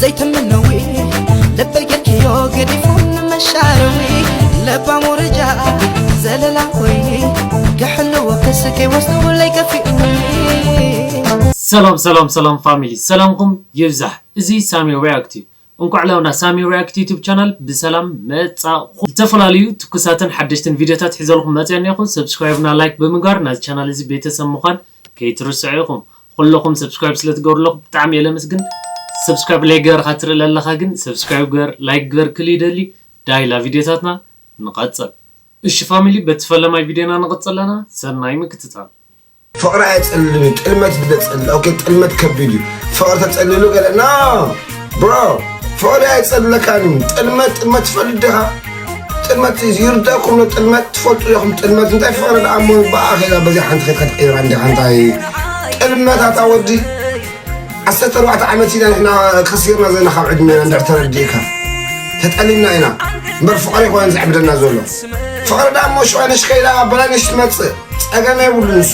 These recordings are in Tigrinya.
ዘይትምነዊ ልበይ ጌርክዮ ገዲፉን መሻረዊ ለባም ወረጃ ዘለላ ኮይኒ ክሕልዎ ክስከይ ወስዱለይ ከፊኡኒ ሰላም ሰላም ሰላም ፋሚሊ ሰላምኩም ይብዛሕ እዚ ሳሚ ሪያክት እዩ እንኳዕ ላውና ሳሚ ሪያክት ዩቱብ ቻናል ብሰላም መጻኹ ዝተፈላለዩ ትኩሳትን ሓደሽትን ቪድዮታት ሒዘልኩም መፅያ እኒኹ ሰብስክራይብና ላይክ ብምግባር ናዚ ቻናል እዚ ቤተሰብ ምዃን ከይትርስዑ ኢኩም ኹሉኩም subscribe ስለ ትገብሩ ኣለኩም ብጣዕሚ እየ ለምስግን subscribe ለይ ገበርካ ትርኢ ለለካ ግን subscribe ግበር like ግበር ክል ይደሊ ዳይ ላ ቪድዮታትና ንቀጽል እሺ ፋሚሊ በቲ ፈለማይ ቪድዮና ንቅጽል ኣለና ሰናይ ምክትታል። ፍቅሪ ኣይጸልልን እዩ ጥልመት እዩ ለጸልል ኦኬ ጥልመት ከቢድ እዩ ፍቅሪ ተጸልሉ ገለ ኖ። ብሮ ፍቕሪ ኣይጸልለካን እዩ ጥልመት ጥልመት ትፈልጥ ዲኻ ጥልመት ይርዳእኩም ዶ ጥልመት ትፈልጡ ዲኹም ጥልመት እንታይ ፍቕሪ ደኣ እሞ ብኣ ኼዳ በዚ ሓንቲ ኸይድ ከትቅይራ እንዲኻ እንታይ ጥልመት ኣታ ወዲ ዓሰርተ ኣርባዕተ ዓመት ኢና ንሕና ከሲርና ዘለና ካብ ዕድሜና እንድሕር ተረዲእካ ተጠሊምና ኢና እምበር ፍቕሪ ይኮነ ዘዕብደና ዘሎ ፍቕሪ ደኣ እሞ ሽቐነሽ ከይዳ በላነሽ ትመፅእ ጸገም የብሉ ንሱ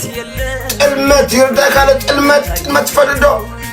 ጥልመት ይርዳእካ ዶ ጥልመት ጥልመት ትፈልጥ ዶ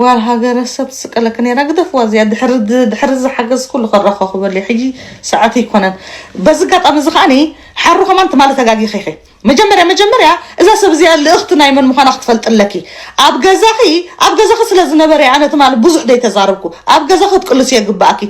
ጓል ሃገረ ሰብ ትስቀለኪ ነራ ግደፍዋ እዚኣ ድሕሪ ድሕሪ እዚ ሓገዝ ኩሉ ከራኸኹበሉ እዩ ሕጂ ሰዓቱ ይኮነን በዚ ጋጣሚ እዚ ከዓኒ ሓሩ ከማን ትማሊ ተጋጊኺ ኢኺ መጀመርያ መጀመርያ እዛ ሰብ እዚኣ ልእኽቲ ናይ መን ምዃና ክትፈልጢ ኣለኪ ኣብ ገዛኺ ኣብ ገዛኺ ስለ ዝነበረ ኣነ ትማሊ ብዙሕ ደይ ተዛረብኩ ኣብ ገዛኺ ክትቅልስዮ ግብኣኪ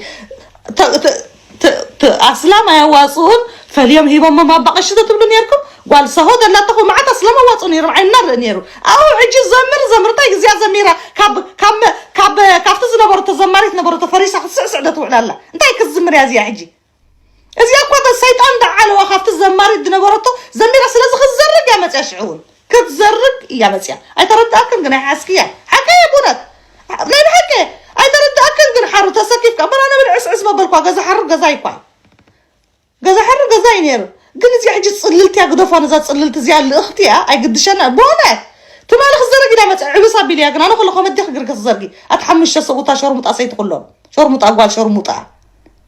ት ት ኣስላም ኣያዋጽኡን ፈልዮም ሂቦሞም ኣባ ቀሺ ተትብሉ ኔርኩም ጓል ሳሆ ዘላቶ እኮ መዓት ኣስላም ኣዋጽኡ ኔሮም ዓይንና ንርኢ ኔሩ ኣው ሕጂ ዘምር ዘምር እንታይ ግዚኣ ዘሚራ ካብ ካብ ካብ ካብቲ ዝነበረቶ ዘማሪት ነበረቶ ፈሪሳ ክትስዕስዕ ዶ ትውዕል ኣላ እንታይ ክትዝምር እያ እዚኣ ሕጂ እዚኣ እኳ ሰይጣን ዳዓለዋ ካብቲ ዘማሪት ዝነበረቶ ዘሚራ ስለዚ ክትዘርግ እያ መጽያ ሽዑ እውን ክትዘርግ እያ መጽያ ኣይተረዳኣክን ግን ኣይሓስክያ ሓቀይ እየ ብእውነት ናይ ብሓቂ እየ ኣይተረዳኣክን ግን ሓሩ ተሰኪፍካ እምበር ኣነ ብል ዕስዕስ መበልኳ ገዛ ሓሩ ገዛ ይኳል ገዛ ሓሩ ገዛ እዩ ነይሩ ግን እዚኣ ሕጂ ጽልልቲ እያ ግደፏ ነዛ ጽልልቲ እዚኣ ልእኽቲ እያ ኣይግድሸና ብእውነት ትማሊ ክዘረግ ኢላ መጽ ዕብስ ኣቢል እያ ግን ኣነ ከለኹ መዲ ክግርገ ትዘርጊ ኣቲ ሓሙሽተ ሰብኡታ ሸርሙጣ ሰይቲ ኩሎም ሸርሙጣ ጓል ሸርሙጣ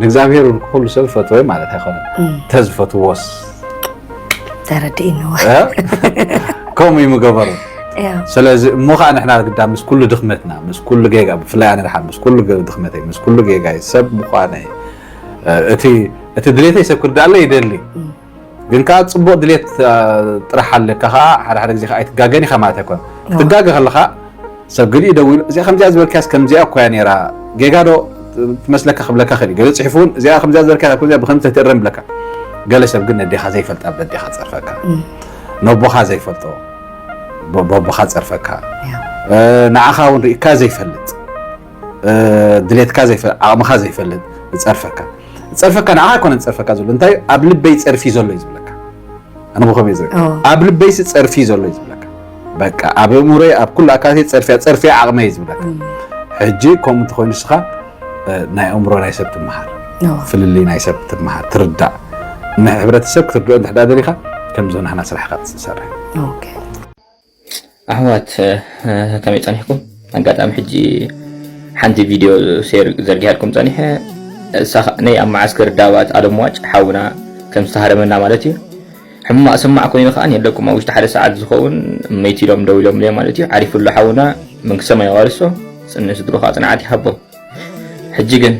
ንእግዚኣብሔር እውን ኩሉ ሰብ ዝፈትወ ማለት ኣይኮነን ተዝፈትዎስ ተረድእንዎ ከምኡ እዩ ምገበሩ ስለዚ እሞ ከዓ ንሕና ግዳ ምስ ኩሉ ድኽመትና ምስ ኩሉ ጌጋ ብፍላይ ኣነ ድሓን ምስ ኩሉ ድኽመተይ ምስ ኩሉ ጌጋይ ሰብ ምኳነይ እቲ ድሌተይ ሰብ ክርዳኣለይ ይደሊ ግን ከኣ ጽቡቕ ድሌት ጥራሕ ኣለካ ከኣ ሓደ ሓደ ግዜ ከኣ ኣይትጋገን ኢኻ ማለት ኣይኮነ ክትጋገ ከለኻ ሰብ ገሊኡ ደዊሉ እዚኣ ከምዚኣ ዝበልካያስ ከምዚኣ እኮ እያ ነይራ ጌጋ ዶ ትመስለካ ክብለካ ክእል ገለ ጽሒፉ እውን እዚኣ ከምዚኣ ዝበልካያ ከምዚኣ ብከምዚ ተትእረም ይብለካ ገለ ሰብ ግን ነዴኻ ዘይፈልጣ ብደዴኻ ጸርፈካ ነቦኻ ዘይፈልጦ በቦኻ ጸርፈካ ንዓኻ እውን ርኢካ ዘይፈልጥ ድሌትካ ዘይፈልጥ ዓቕምኻ ዘይፈልጥ ዝጸርፈካ ዝጸርፈካ ንዓኻ ኣይኮነን ዝጸርፈካ ዘሎ እንታይ ኣብ ልበይ ጸርፊ ዘሎ እዩ ዝብለካ ኣነ ብኸመይ እዩ ዝብል ኦ ኣብ ልበይሲ ጸርፊ እዩ ዘሎ እዩ ዝብለካ በቃ ኣብ እእምሮይ ኣብ ኩሉ ኣካላተይ ጸርፊያ ጸርፊያ ዓቕመይ እዩ ዝብለካ እም፣ ሕጂ ከምኡ እንተኾይኑ ንስኻ እ፣ ናይ ኣእምሮ ናይ ሰብ ትመሃር ኦ፣ ፍልልይ ናይ ሰብ ትመሃር ትርዳእ ንሕብረተሰብ ክትርድኦ እንድሕዳ ደሊኻ ከምዞ ናህና ስራሕካ ትሰርሕ ኦኬ። ኣሕዋት ከመይ ጸኒሕኩም ኣጋጣሚ ሕጂ ሓንቲ ቪድዮ ሴር ዘርጊሃልኩም ጸኒሐ እሳ ናይ ኣብ መዓስከር ዳባት ኣለምዋጭ ሓውና ከም ዝተሃረመና ማለት እዩ ሕማቅ ስማዕ ኮይኑ ከዓ የለኩም ኣብ ውሽጢ ሓደ ሰዓት ዝኸውን መይቲ ኢሎም ደው ኢሎም ለ ማለት እዩ ዓሪፍሉ ሓውና መንግስቲ ሰማይ ኣዋርሶ ጽን ስድሮ ከዓ ጽንዓት ይሃቦም ሕጂ ግን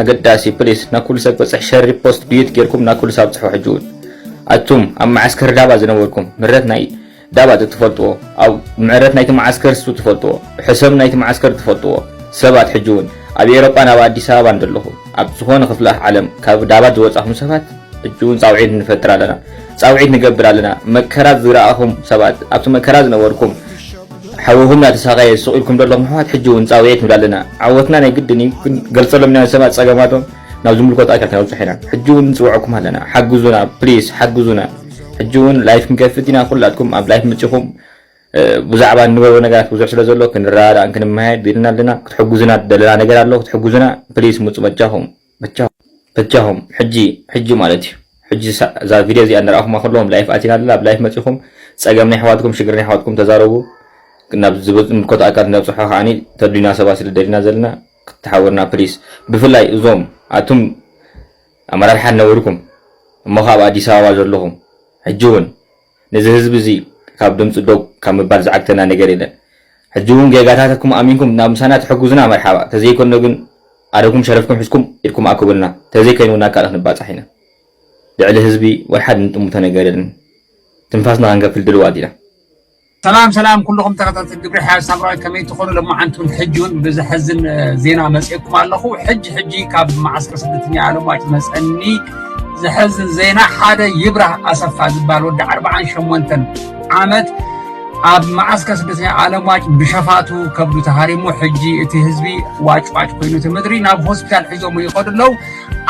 ኣገዳሲ ፕሊስ ናብ ኩሉ ሰብ ክበፅሕ ሸሪ ፖስት ድዩት ጌርኩም ናብ ኩሉ ሰብ ኣብፅሑ ሕጂ እውን ኣቱም ኣብ መዓስከር ዳባ ዝነበርኩም ምረት ናይ ዳባት እትፈልጥዎ ኣብ ምዕረት ናይቲ መዓስከር ስብ ትፈልጥዎ ሕሰም ናይቲ መዓስከር እትፈልጥዎ ሰባት ሕጂ ውን ኣብ ኤሮጳን ኣብ ኣዲስ ኣበባን ደለኹም ኣብ ዝኾነ ክፍለ ዓለም ካብ ዳባት ዝወጻኹም ሰባት ሕጂ ውን ጻውዒት ንፈጥር ኣለና ጻውዒት ንገብር ኣለና መከራ ዝረኣኹም ሰባት ኣብቲ መከራ ዝነበርኩም ሓውኹም እናተሳቐየ ስቕ ኢልኩም ደለኹም ኣሕዋት ሕጂ ውን ጻውዒት ንብል ኣለና ዓወትና ናይ ግድን እዩ ግን ገልጸሎም ኢና ሰባት ጸገማቶም ናብ ዝምልከቶ ኣካል ከነብጽሕ ኢና ሕጂ ውን ንጽውዐኩም ኣለና ሓግዙና ፕሊስ ሓግዙና ሕጂ እውን ላይፍ ክንከፍት ኢና ኩላትኩም ኣብ ላይፍ መጺኹም ብዛዕባ እንገብሮ ነገራት ብዙሕ ስለ ዘሎ ክንረዳዳእን ክንመሃየድ ቢልና ኣለና ክትሕግዙና ደለና ነገር ኣሎ ክትሕግዙና ፕሊስ ምጹ በጃኹም በጃኹም ሕጂ ሕጂ ማለት እዩ ሕጂ እዛ ቪድዮ እዚኣ ንረኣኹማ ከለዎም ላይፍ ኣቲና ኣለና ኣብ ላይፍ መጺኹም ጸገም ናይ ኣሕዋትኩም ሽግር ናይ ኣሕዋትኩም ተዛረቡ ናብ ዝምልከቶ ኣካል ነብፅሖ ከዓ ተዱና ሰባት ስለ ደሊና ዘለና ክትሓውርና ፕሊስ ብፍላይ እዞም ኣቱም ኣመራርሓ ዝነበርኩም እሞ ከኣ ኣብ ኣዲስ ኣበባ ዘለኹም ሕጂ ውን ነዚ ህዝቢ እዚ ካብ ድምጹ ዶብ ካብ ምባል ዝዓግተና ነገር የለን ሕጂ ውን ጌጋታትኩም ኣሚንኩም ናብ ምሳና ትሕጉዙና መርሓባ ተዘይ ኮኖ ግን ኣደኩም ሸረፍኩም ሒዝኩም ኢድኩም ኣክቡልና ተዘይ ከይኑ ናብ ካልእ ክንባጻሕ ኢና ልዕሊ ህዝቢ ወልሓድ እንጥምቶ ነገር የለን ትንፋስና ክንከፍል ድልዋት ኢና ሰላም ሰላም ኩሉኹም ተኸታተልቲ ግብሪ ሓያል ሳምራዊት ከመይ ትኾኑ ሎማዓንቲ እውን ሕጂ እውን ብዘሕዝን ዜና መፅኤኩም ኣለኹ ሕጂ ሕጂ ካብ መዓስከር ስደተኛ ኣለማጭ መፀኒ ዘሕዝን ዜና ሓደ ይብራህ ኣሰፋ ዝበሃል ወዲ ዓርባዓን ሸሞንተን ዓመት ኣብ መዓስከ ስደተኛ ዓለም ዋጭ ብሸፋቱ ከብዱ ተሃሪሙ ሕጂ እቲ ህዝቢ ዋጭዋጭ ኮይኑ እቲ ምድሪ ናብ ሆስፒታል ሒዞም ይኸዱ ኣለዉ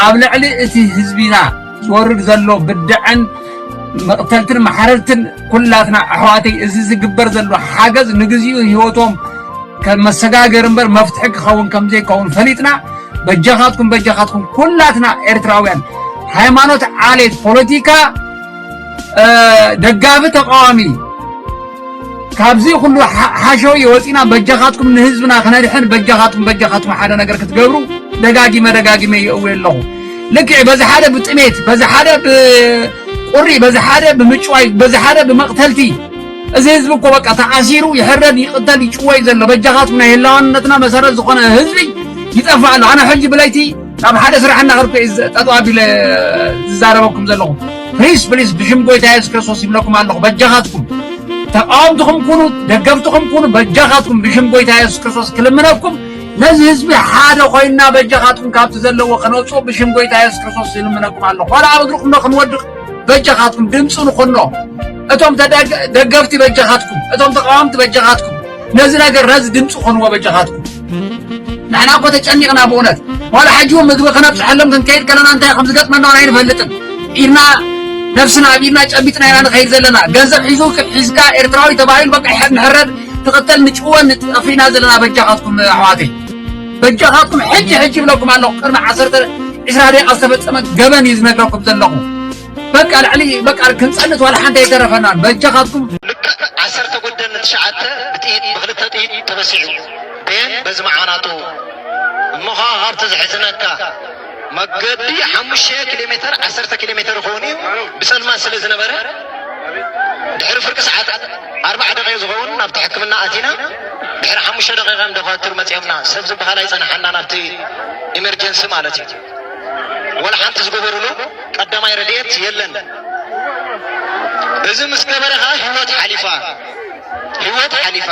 ኣብ ልዕሊ እቲ ህዝቢና ዝወርድ ዘሎ ብድዐን መቕተልትን ማሕረድትን ኩላትና ኣሕዋተይ እዚ ዝግበር ዘሎ ሓገዝ ንግዚኡ ህይወቶም ከም መሰጋገሪ እምበር መፍትሒ ክኸውን ከም ዘይከውን ፈሊጥና በጃኻትኩም በጃኻትኩም ኩላትና ኤርትራውያን ሃይማኖት ዓሌት ፖለቲካ ደጋፊ ተቃዋሚ ካብዚ ኩሉ ሓሸውየ ወፂና በጃኻትኩም ንህዝብና ክነድሕን በጃኻትኩም በጃኻትኩም ሓደ ነገር ክትገብሩ ደጋጊመ ደጋጊመ ይእውየ ኣለኹ ልክዕ በዚ ሓደ ብጥሜት በዚ ሓደ ብቁሪ በዚ ሓደ ብምጭዋይ በዚ ሓደ ብመቕተልቲ እዚ ህዝቢ እኮ በቃ ተኣሲሩ ይሕረድ ይቕተል ይጭወይ ዘሎ በጃኻትኩም ናይ ህላዋነትና መሰረት ዝኾነ ህዝቢ ይጠፋእ ኣሎ ኣነ ሕጂ ብለይቲ ኣብ ሓደ ስራሕ እናኸድኩ ጠጠው ኣቢለ ዝዛረበኩም ዘለኹ ፕሊስ ፕሊስ ብሽም ጎይታ የሱስ ክርስቶስ ይብለኩም ኣለኹ በጃኻትኩም ተቃወምትኹም ኩኑ ደገፍትኹም ኩኑ በጃኻትኩም ብሽም ጎይታ የሱስ ክርስቶስ ክልምነኩም ነዚ ህዝቢ ሓደ ኮይና በጃኻትኩም ካብቲ ዘለዎ ከነውፅኦ ብሽም ጎይታ የሱስ ክርስቶስ ይልምነኩም ኣለኹ ዋላ ኣብ እግርኩም ዶ ክንወድቕ በጃኻትኩም ድምፂ ንኾኖ እቶም ደገፍቲ በጃኻትኩም እቶም ተቃወምቲ በጃኻትኩም ነዚ ነገር ነዚ ድምፂ ኮንዎ በጃኻትኩም ንሕና እኮ ተጨኒቕና ብእውነት ዋላ ሕጂ እውን ምግቢ ክነብፅሐሎም ክንከይድ ከለና እንታይ ከም ዝገጥመና ውን ኣይንፈልጥን ኢድና ነብስና ኣብ ኢድና ጨቢጥና ኢና ንኸይድ ዘለና ገንዘብ ሒዙ ሒዝካ ኤርትራዊ ተባሂሉ በቃ ንሕረድ ትቕተል ንጭወን ጠፊእና ዘለና በጃኻትኩም ኣሕዋተይ በጃኻትኩም ሕጂ ሕጂ ይብለኩም ኣለኹ ቅድሚ ዓሰርተ ዕስራ ደቂቃ ዝተፈፀመ ገበን እዩ ዝነግረኩም ዘለኹ በቃ ልዕሊ በቃ ክንጸንት ዋላ ሓንቲ ኣይተረፈናን በጃኻትኩም ልክዕ ዓሰርተ ጉደን ትሽዓተ ብጥይት ብክልተ ጥይት ተበሲዑ ቤን በዚ መዓናቱ እሞ ከዓ ሃብቲ ዝሕዝነካ መገዲ ሓሙሽተ ኪሎ ሜትር ዓሰርተ ኪሎ ሜትር ይኸውን እዩ ብፀልማት ስለ ዝነበረ ድሕሪ ፍርቂ ሰዓት ኣርባዓ ደቂቕ ዝኸውን ናብቲ ሕክምና ኣቲና ድሕሪ ሓሙሽተ ደቂቕ ዶኳትር መፅኦምና ሰብ ዝበሃል ኣይፀናሓና ናብቲ ኢመርጀንሲ ማለት እዩ ዋላ ሓንቲ ዝገበሩሉ ቀዳማይ ረድኤት የለን። እዚ ምስ ገበረ ከዓ ህይወት ሓሊፋ ህይወት ሓሊፋ።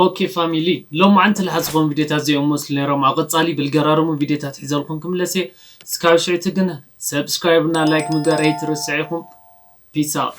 ኦኬ ፋሚሊ ሎማዓንቲ ለሓስ ዝኾኑ ቪድዮታት እዚኦም ይመስሉ ነይሮም ኣብ ቐፃሊ ብልገራርሙ ቪድዮታት ሒዘልኩም ክምለስ እየ እስካብ ሽዕቲ ግን ሰብስክራይብ እና ላይክ ምግባር ኣይትረስዕ ኢኹም ፒስ ኣውት።